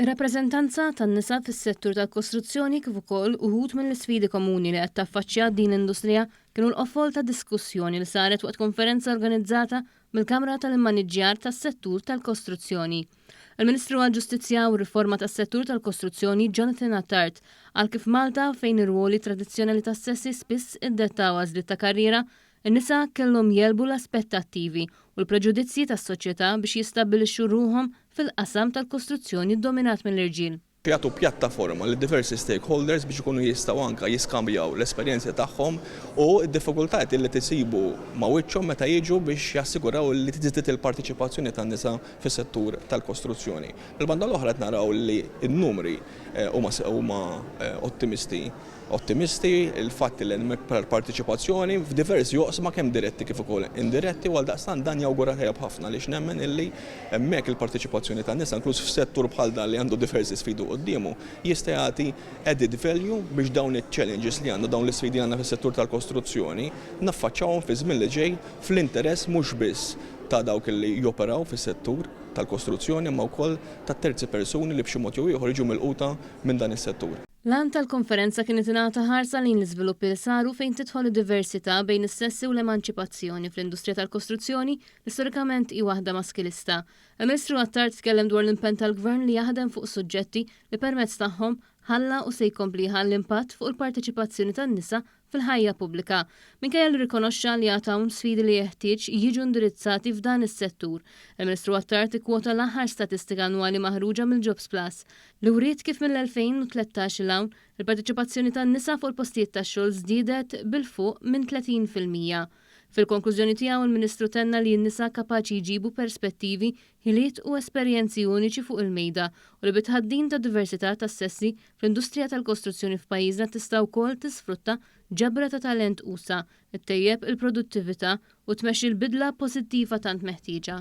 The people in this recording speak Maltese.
Ir-rappreżentanza tan-nisa fis-settur tal-kostruzzjoni kif ukoll uħud mill-isfidi komuni li qed taffaċċja din l-industrija kienu l-qofol ta' diskussjoni li saret waqt konferenza organizzata mill-Kamra tal-Immaniġġjar tas-Settur tal-Kostruzzjoni. Il-Ministru għall-Ġustizzja u r-Riforma tas-Settur tal-Kostruzzjoni Jonathan Attard qal kif Malta, fejn ir-rwoli tradizzjonali tas-sessi spiss iddettaw għażliet ta' karriera, In-nisa kellhom jegħlbu l-aspettattivi u l-preġudizzji tas-soċjetà biex jistabbilixxu ruħhom fil-qasam tal-kostruzzjoni ddominat mill-irġiel. Jagħtu pjattaforma lil diversi stakeholders biex ikunu jistgħu anke jiskambjaw l-esperjenzi tagħhom u d-diffikultajiet li qed isibu ma' wiċċhom meta jiġu biex jassiguraw li tiżdied il-parteċipazzjoni tan-nisa fis-settur tal-kostruzzjoni. Mill-banda l-oħra qed naraw li n-numri huma ottimisti. Ottimisti, il-fatt li hemm iktar parteċipazzjoni f'diversi oqsma kemm diretti kif ukoll indiretti u għaldaqstant dan jawgura tajjeb ħafna għaliex nemmen illi hemmhekk il-parteċipazzjoni tan-nisa inkluż f'settur bħal dan li għandu diversi sfidi quddiemu jista' jagħti added value biex dawn iċ-challenges li għandna, dawn l-isfidi li għandna fis-settur tal-kostruzzjoni naffaċċawhom fiż-żmien li ġej fl-interess mhux biss ta' dawk li joperaw fis-settur tal-kostruzzjoni imma wkoll tat-terzi persuni li b'xi mod jew ieħor jiġu milquta minn dan is-settur. L-għan tal-konferenza kien li tingħata ħarsa lejn l-iżviluppi li saru fejn tidħol id-diversità bejn is-sessi u l-emanċipazzjoni fl-industrija tal-kostruzzjoni li storikament hi waħda maskilista. Il-Ministru Attard tkellem dwar l-impenn tal-Gvern li jaħdem fuq suġġetti li permezz tagħhom ħalla u se jkompli jħalli impatt fuq il-parteċipazzjoni tan-nisa fil-ħajja pubblika, minkejja li rrikonoxxa li għad hawn sfidi li jeħtieġ jiġu indirizzati f'dan is-settur. Il-Ministru Attard ikkwota l-aħħar statistika annwali maħruġa mill-Jobsplus, li wriet kif mill-2013 'il hawn, il-parteċipazzjoni tan-nisa fuq il-postijiet tax-xogħol żdiedet b'il-fuq minn 30 fil-mija. Fil-konklużjoni tiegħu, il-Ministru tenna li n-nisa kapaċi jġibu perspettivi ħiliet u esperjenzi uniċi fuq il-mejda u li bit-tħaddim tad-diversità tas-sessi fl-industrija tal-kostruzzjoni f'pajjiżna tista' wkoll tisfrutta ġabra ta' talent usa', ittejjeb il-produttività u tmexxi l-bidla pożittiva tant meħtieġa.